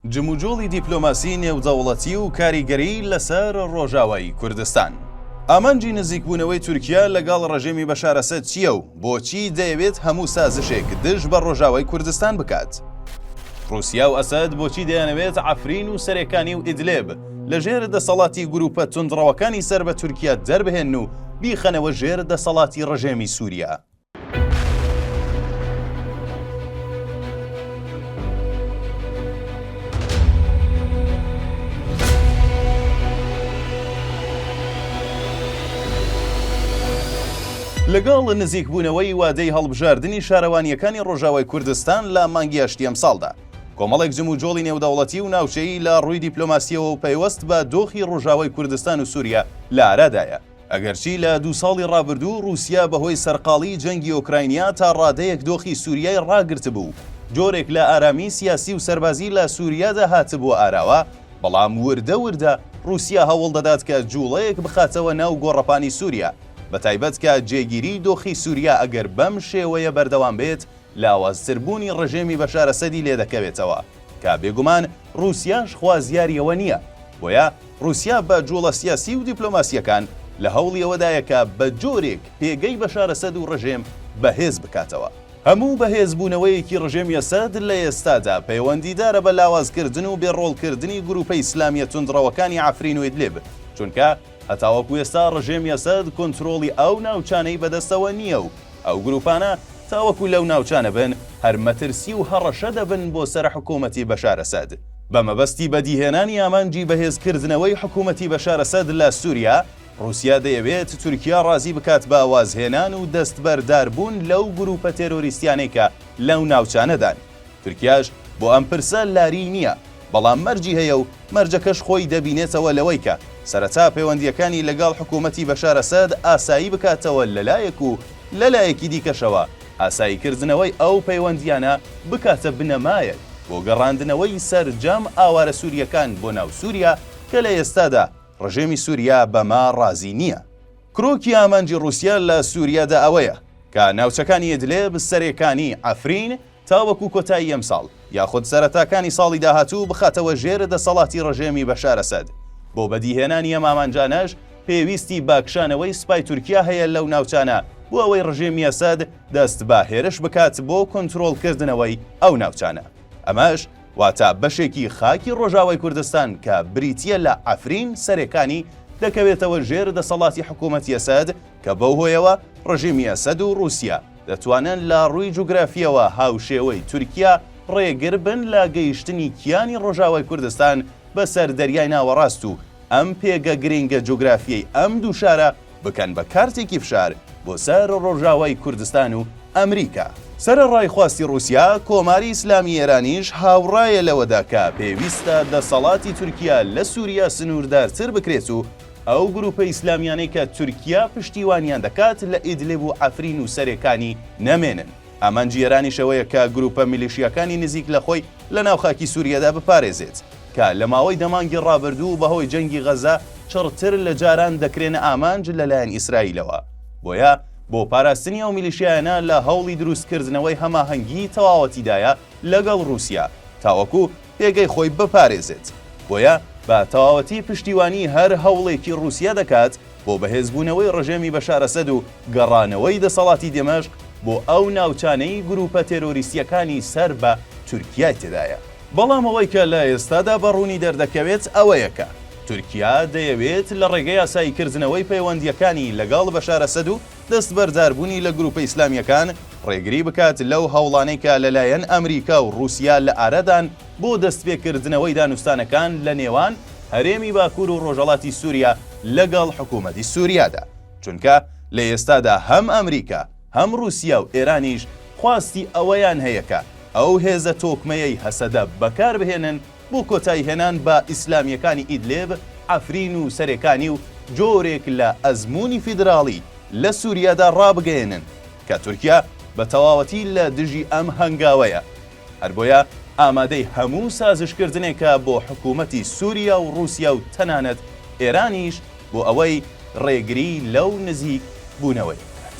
جموجۆڵی دیپلۆماسی نێودەوڵەتی و کاریگەری لەسەر ڕۆژاوای کوردستان. ئامانجی نزیکبوونەوەی تورکیا لەگەڵ ڕژێمی بەشار ئەسەد چییە و بۆچی دەیەوێت هەموو سازشێک دژ بە ڕۆژاوای کوردستان بکات؟ ڕووسیا و ئەسەد بۆچی دەیانەوێت عەفرین و سەرێکانی و ئیدلێب لە ژێر دەسەڵاتی گرووپە توندڕەوەکانی سەر بە تورکیا دەربهێنن و بیخەنەوە ژێر دەسەڵاتی ڕژێمی سووریا؟ لەگەڵ نزیکبوونەوەی وادەی هەڵبژاردنی شارەوانیەکانی ڕۆژاوای کوردستان لە مانگی ئەشتی ئەمساڵدا کۆمەڵێک جم و جۆڵی نێودەوڵەتی و ناوچەیی لە ڕووی دیپلۆماسیەوە و پەیوەست بە دۆخی ڕۆژاوای کوردستان و سووریا لە ئارادایە ئەگەرچی لە دوو ساڵی ڕابردوو ڕووسیا بەهۆی سەرقاڵیی جەنگی ئۆکراینیا تا ڕادەیەک دۆخی سووریای ڕاگرتبوو و جۆرێک لە ئارامیی سیاسی و سەربازی لە سووریادا هاتبووە ئاراوە، بەڵام وردە وردە ڕووسیا هەوڵ دەدات کە جووڵەیەک بخاتەوە ناو گۆڕەپانی سووریا، بەتایبەت کە جێگیریی دۆخی سووریا ئەگەر بەم شێوەیە بەردەوام بێت، لاوازتربوونی ڕژێمی بەشار ئەسەدی لێ دەکەوێتەوە. کە بێگومان ڕووسیاش خوازیاری ئەوە نییە، بۆیە ڕووسیا بە جووڵە سیاسی و دیپلۆماسییەکان لە هەوڵی ئەوەدایە کە بە جۆرێک پێگەی بەشار ئەسەد و ڕژێم بەهێز بکاتەوە. هەموو بەهێزبوونەوەیەکی ڕژێمی ئەسەد لە ئێستادا پەیوەندیدارە بە لاوازکردن و بێ ڕۆڵکردنی گرووپە ئیسلامییە توندڕەوەکانی عەفرین و ئیدلیب، چونکە، هەتاوەکو ئێستا ڕژێمی ئەسەد کۆنترۆڵی ئەو ناوچانەی بەدەستەوە نییە و ئەو گروپانە تاوەکو لەو ناوچانە بن هەر مەترسی و هەڕەشە دەبن بۆ سەر حکۆمەتی بەشار ئەسەد بە مەبەستی بەدیهێنانی ئامانجی بەهێز کردنەوەی حکومەتی بەشار ئەسەد لە سوریا ڕوسیا دەیەوێت تورکیا ڕازی بکات بە وازهێنان و دەستبەردار بوون لەو گروپە تێرۆریستیانەی کە لەو ناوچانەدان تورکیاش بۆ ئەم پرسە لاریی نییە بەڵام مەرجی هەیە و مەرجەکەش خۆی دەبینێتەوە لەوەی کە سەرەتا پەیوەندییەکانی لەگەڵ حکوومەتی بەشار ئەسەد ئاسایی بکاتەوە لە لایەک و لە لایەکی دیکەشەوە ئاساییکردنەوەی ئەو پەیوەندییانە بکاتە بنەمایەک بۆ گەڕاندنەوەی سەرجەم ئاوارە سوورییەکان بۆ ناو سووریا کە لە ئێستادا ڕژێمی سووریا بەمە ڕازی نییە. کرۆکی ئامانجی ڕووسیا لە سووریادا ئەوەیە کە ناوچەکانی ئیدلێب، سەرێکانی عەفرین، تاوەکو کۆتایی ئەمساڵ یاخود سەرەتاکانی ساڵی داهاتوو بخاتەوە ژێر دەسەڵاتی ڕژێمی بەشار ئەسەد، بۆ بەدیهێنانی ئەم ئامانجانەش پێویستی بە کشانەوەی سوپای تورکیا هەیە لەو ناوچانە بۆ ئەوەی ڕژێمی ئەسەد دەست بە هێرش بکات بۆ کۆنترۆڵکردنەوەی ئەو ناوچانە ئەمەش واتە بەشێکی خاکی ڕۆژاوای کوردستان کە بریتیە لە عەفرین سەرێکانی دەکەوێتەوە ژێر دەسەڵاتی حکومەتی ئەسەد کە بەو هۆیەوە ڕژێمی ئەسەد و ڕوسیا دەتوانن لە ڕووی جوگرافییەوە هاوشێوەی تورکیا ڕێگر بن لە گەیشتنی کیانی ڕۆژاوای کوردستان بەسەر دەریای ناوەڕاست و ئەم پێگە گرنگە جوگرافییەی ئەم دوو شارە بکەن بە کارتێکی فشار بۆ سەر ڕۆژاوای کوردستان و ئەمریکا. سەرەڕای خواستی ڕووسیا، کۆماری ئیسلامی ئێرانیش هاوڕایە لەوەدا کە پێویستە دەسەڵاتی تورکیا لە سووریا سنووردارتر بکرێت و، ئەو گروپە ئیسلامیانەی کە تورکیا پشتیوانیان دەکات لە ئیدلب و عەفرین و سەرێکانی نەمێنن. ئامانجی ئێرانیش ئەوەیە کە گروپە میلیشیاکانی نزیک لە خۆی لە ناو خاکی سوریادا بپارێزێت کە لە ماوەی دە مانگی ڕابردوو و بەهۆی جەنگی غەزە چڕتر لە جاران دەکرێنە ئامانج لە لایەن ئیسرائیلەوە. بۆیە بۆ پاراستنی ئەو میلیشیایانە لە هەوڵی دروستکردنەوەی هەماهەنگیی تەواوەتیدایە لەگەڵ ڕووسیا تاوەکو پێگەی خۆی بپارێزێت، بۆیە بە تەواوەتی پشتیوانی هەر هەوڵێکی ڕووسیە دەکات بۆ بەهێزبوونەوەی ڕژێمی بەشار ئەسەد و گەڕانەوەی دەسەڵاتی دێمەشق بۆ ئەو ناوچانەی گرووپە تێرۆریستییەکانی سەر بە تورکیای تێدایە. بەڵام ئەوەی کە لە ئێستادا بە ڕوونی دەردەکەوێت ئەوەیە کە تورکیا دەیەوێت لە ڕێگەی ئاساییکردنەوەی پەیوەندییەکانی لەگەڵ بەشار ئەسەد و دەستبەرداربوونی لە گروپە ئیسلامییەکان ڕێگری بکات لەو هەوڵانەی کە لەلایەن ئەمریکا و ڕووسیا لە ئارادان بۆ دەستپێکردنەوەی دانوستانەکان لە نێوان هەرێمی باکوور و ڕۆژەڵاتی سووریا لەگەڵ حکوومەتی سووریادا، چونکە لە ئێستادا هەم ئەمریکا، هەم ڕووسیا و ئێرانیش خواستی ئەوەیان هەیە کە ئەو هێزە تۆکمەیەی هەسەدە بەکار بهێنن، بۆ کۆتایی هێنان بە ئیسلامیەکانی ئیدلێب، عەفرین و سەرێکانی و جۆرێک لە ئەزموونی فیدراڵی لە سوریادا ڕابگەیەنن کە تورکیا بە تەواوەتی لە دژی ئەم هەنگاوەیە هەر بۆیە ئامادەی هەموو سازشکردنێکە بۆ حکوومەتی سوریا و ڕووسیا و تەنانەت ئێرانیش بۆ ئەوەی ڕێگری لەو نزیک بوونەوەی بکات.